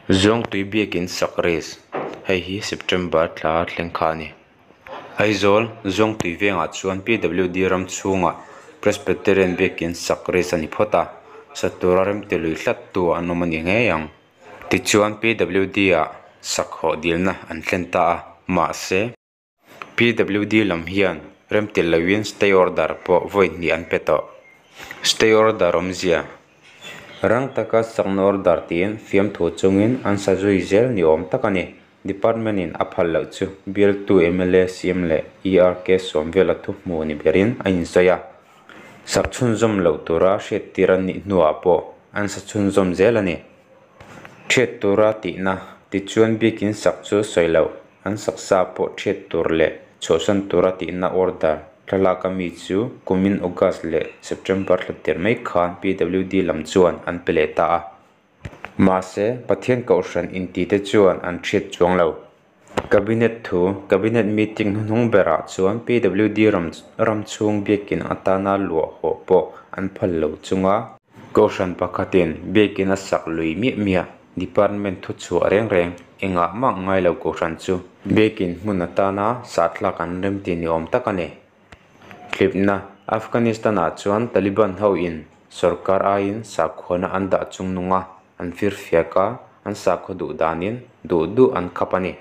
Zawngtui biakin sak race, hei hi September thla thleng kha a ni. Aizawl zawngtui vengah chuan PWD ram chhunga Presbyterian biakin sak race a ni phawt a, sak tura remte lui tlat tu an awm a ni ngei ang. Tichuan PWD-ah sak hawhdilna an thlen ta a, mahse. PWD lam hian remtil loin stay order pawh vawi hnih an pe tawh. Stay order awmzia rang taka sakna order tiin fiamthu chungin an sa zui zel ni awm tak a ni. Department in a phal loh chu bialtu mla siam leh ER case sawm vela thu hmuh ni berin a insawi a. Sak chhunzawm loh tura hriattir an nih hnuah pawh an sa chhunzawm zel a ni. Ṭhiat tura tihna, tichuan biakin sak chu sawi loh, an saksa pawh ṭhiat tur leh chhawhsan tura tihna order thlalak a mi chu kumin August leh September thla tir mai khan PWD lam chuan an pe leh ta a. Mahse, Pathian Kohhran intite chuan an ṭhiat chuang lo. Cabinet thu, Cabinet meeting hnuhnung berah chuan PWD ram chhung biakin atana luah hawh pawh an phal lo chung a. Kohhran pakhatin biakin a sak lui miah miah Department thu chhuah reng reng engah mah ngai lo kohhran chu biakin hmun atana sahthlak an rem tih ni awm tak a ni. Thlipna, Afghanistan-ah chuan Taliban ho in sawrkar aiin sakhuana an dah chung nung a. an fir fiak a, an sakhaw duh danin duh duh an khap a ni.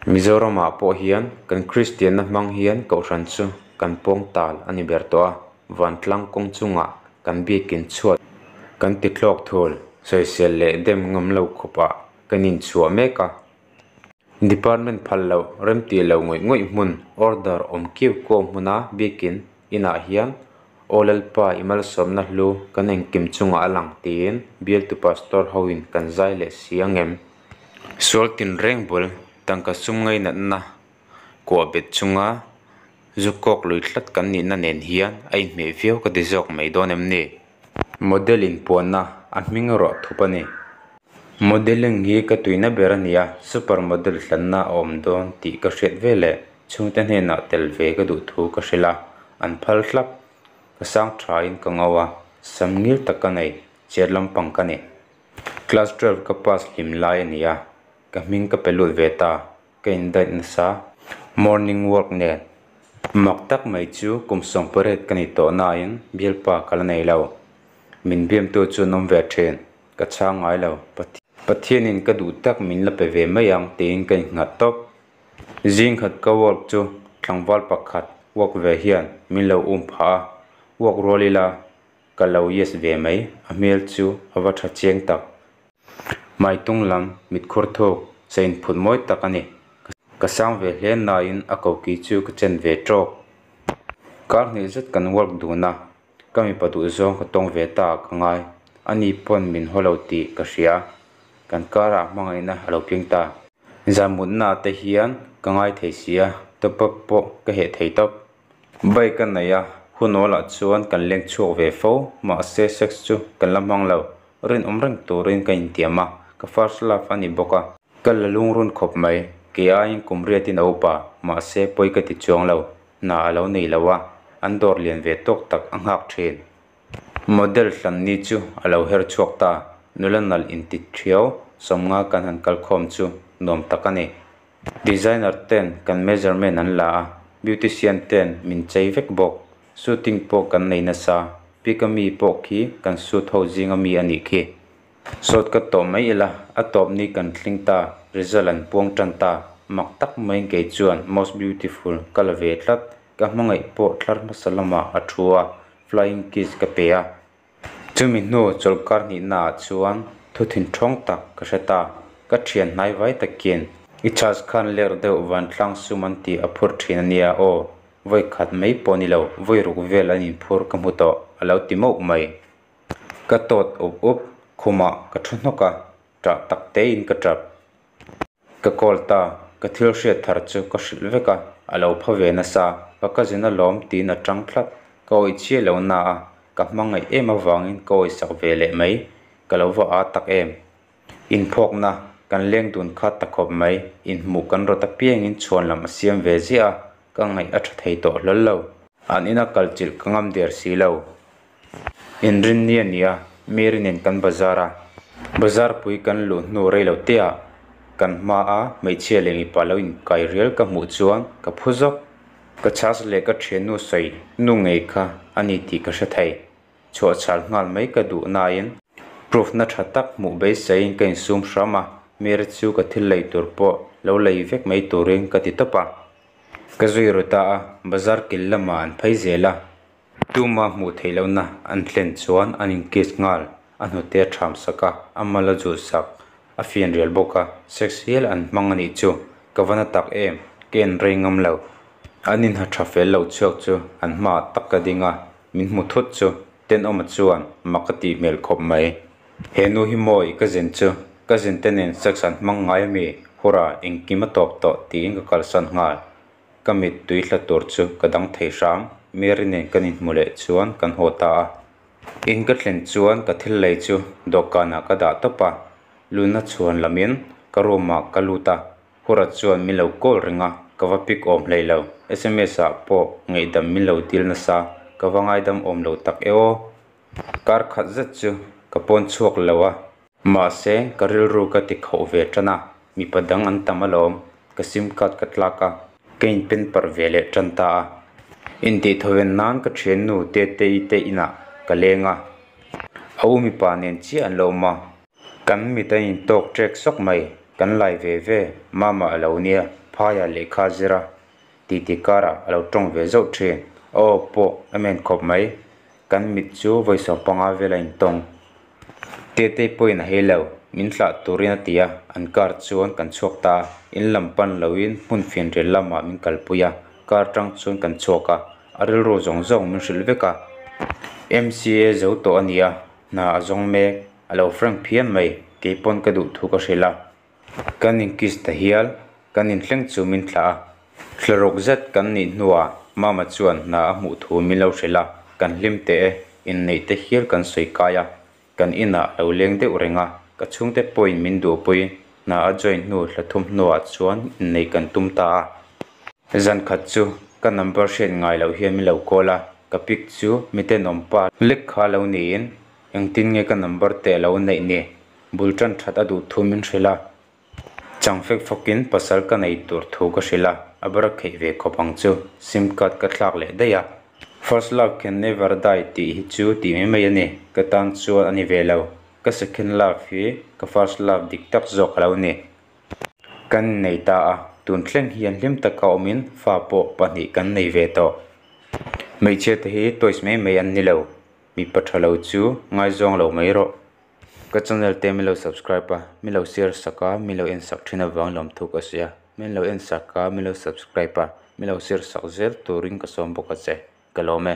Mizoramah pawh hian kan Kristianna hmang hian Kohhran chu kan pawng tal a ni ber tawh a, vantlang kawng chungah kan biakin chhuat kan ti thlawk thul, sawisel leh dem ngam lo khawpah kan inchhuah mek a, Department phal loh, remti lo ngawih ngawih hmun, order awm kiau kiau hmuna biakin inah hian aw Lalpa i malsawmna hlu kan engkim chungah a lang tiin bialtu pastor hoin kan zai leh si ang em? Sual tinreng bul, tangka sum ngainatna kuah bet chunga zuk kawk lui tlat kan nihna nen hian a inhmeh viau ka ti zawk mai dawn em ni? Model inpuanna a hming ruah thup a ni. Modelling hi ka tuina ber a ni a, super model hlanna a awm dawn tih ka hriat ve le. Chhungte hnenah tel ve ka duh thu ka hre la, an phal hlap. Ka sang thain ka ngau a, sam ngil tak ka nei, chet lampang ka ni. Class twelve ka pass hlim lai a ni a, ka hming ka pe lut ve ta. Ka indaih nasa morning work nen mak tak mai chu kum sawng pariat ka nih tawh nain bialpa ka la nei lo. Min biamtu chuan awm ve thin ka chhang ngai lo. Pathianin ka duh tak min la pe ve mai ang tiin ka innghat tawp. Zing khat ka work chu tlangval pakhat work ve hian min lo um phah a, work rual ila ka lo yes ve mai a hmel chu a va tha chiang tak. Maitung lam mitkhur thuk sa in phut mawi tak a ni. Ka sang ve hle nai in a koki chu ka chen ve trawk. Kar hnih zet kan work dun a, ka mipa duh zawng ka tawng ve ta ka ngai. Ani pawn min haw lo tih ka hria. Kan kar ah hmanga in a lo keng ta. Zan mut na te hian ka ngai thei si a, top up pawh ka heh thei tawp. Bike a nei a, hunawl ah chuan kan leng chhuak ve fo, mahse sex chu kan la hmang lo. rinawm reng turin ka intiam a, ka first love a ni bawk a. Ka la lungrun khawp mai, ke aiin kum riatin a up a, mahse pawi ka ti chuang lo, hna a lo nei lo a, an dawr lian ve tawk tak a nghak thin. Model hlan ni chu a lo her chhuak ta, nula nalh intit hriau sawmnga kan han kalkhawm chu nuam tak a ni, Designer ten kan measurement an la a, beautician ten min chei vek bawk. Shooting pawh kan nei nasa, pick a mi pawh khi kan shoot ho zing a mi a nih khi. Sawt ka tawh mai ila, a tawp ni kan tling ta, result an puang tan ta, mak tak maiin kei chuan most beautiful ka la ve tlat. Ka hmangaih pawh thlar hmasa lamah a thu a, flying kiss ka pe a. Chumi hnu chawl karhnihnaah chuan thuthin thawng tak ka hre ta, ka thian hnai vai takin, I church khan ler deuh vantlang sum an tih a phur thin a nia aw, vawi khat mai pawh ni lo, vawi ruk vel an inphur ka hmu tawh a lo ti mauh mai. Ka tawt up up, khumah ka thu hnawk a, ṭah tak tein ka ṭap. Ka call ta, ka thil hriat thar chu ka hrilh vek a, a lo pha ve nasa ka cousin a lawm tiin a ṭang tlat. Ka awi chiah lo na a, ka hmangaih em avangin ka awi sak ve leh mai. Ka lo va a tak em. Inphawkna, kan leng dun kha ta khawp mai, inhmuh kan rawt apiangin chhuan lam a siam ve ziah a, ka ngaih a ṭha thei tawh hlawllo. An ina kal chilh ka ngam der si lo. Inrin ni a ni a, mi rinin kan bazar a, bazar pui kan luh hnu rei lo teh-ah kan hmaa hmeichhia leh mipa lo inkai rial ka hmuh chuan ka phu zawk. Ka chhas leh ka thiannu sawi nu ngei kha a ni tih ka hre thei. Chhuah chhal nghal mai ka duh nain proof na tha tak hmuh beiseiin ka insum hram a, Mary chu ka thil lei tur pawh lo lei vek mai turin ka ti tawp a. Ka zui ru ta a, bazar kil lamah an phei zel a, Tuma hmuh theih lohna an thlen chuan an inkis nghal, a hnute a ṭham sak a, a mal a zu sak, a fian rial bawk a, sex hial an hmang a nih chu, ka va na tak em, ka en rei ngam lo. An inha ṭha fel loh chhuak chu an hmaah tak ka ding a, min hmu thut chu, Tenawma chuan mak a tih hmel khawp mai. He nu hi maw i ka zen chu, ka zente nen sex an hmang ngai a mi, hura engkim a tawp tawh tiin ka kalsan nghal. Ka mit tui hla tur chu ka dang thei hrang, Mary nen kan inhmu leh chuan kan haw ta a. In ka thlen chuan ka thil lei chu dawhkanah ka dah tawp a, lunna chhuan lamin ka room ah ka lut a, Hura chuan min lo call ring a, ka va pick awm hlei lo, sms ah pawh ngeihdam min lo dil nasa, ka va ngaidam awm lo tak e aw. Kar khat zet chu ka pawn chhuak lo a. Mahse, ka rilru ka ti khauh ve tan a, mipa dang an tam alawm, ka sim card ka tlak a, ka in pen parh ve leh tan ta a, intihthoven nan ka thiannu Tetei te inah ka leng a, a u mipa nen chiah an lo awm a, kan mit a in tawk ṭek sawk mai, kan lai ve ve, mama a lo nia, phai ah lehkha zir a, Tih tih karah a lo tawng ve zauh thin. Aw pawh a men khawp mai. Kan mit chu vawi sawm panga vel a intawng. Tetei pawhin a hei lo, min hlah turin a ti a. An car chuan kan chhuak ta a, in lam pan loin hmun finrel lamah min kalpui a. Car tang chuan kan chhuak a, a rilru zawng zawng min hrilh vek a. Mca zo tawh a nia, hna a zawng mek, a lo frank phian mai, kei pawn ka duh thu ka hrilh a. Kan inkiss ta hial, kan inthleng chu min thlah a, thlaruk zet kan nih hnua mama chuan hna a hmuh thu min lo hrilh a, kan hlim teh e, inneih te hial kan sawi kai a, kan inah lo leng deuh reng a, ka chhungte pawhin min duhpui, hna a join hnu hla thum hnuah chuan inneih kan tum ta a. Zan khat chu ka number hriat ngai loh hian min lo call a, ka pic chu mitenawm pa lek kha lo niin, engtin nge ka number teh lo neih ni? Bul ṭan ṭhat a duh thu min hrilh a, chang fek fawkin pasal ka nei tur thu ka hrilh a, a ber kheih ve khawp ang chu. Sim card ka thlak leh daih a. First love can never die tih hi chu tih mai mai a ni. Ka tan chuan a ni ve lo. Ka second love hi ka first love dik tak zawk a lo ni. Kan nei ta a, tun thleng hian hlim taka awmin fa pawh pahnih kan nei ve tawh. Hmeichhia te hi toys mai mai an ni lo. Mipa ṭha lo chu ngaizawng lo mai rawh. Ka channel te milo subscribe a milo share sak a milo en sak thin avang lawm thuk a sia milo en sak a milo subscribe a milo share sak zir turin ka sawm bawk a che ka lawm e.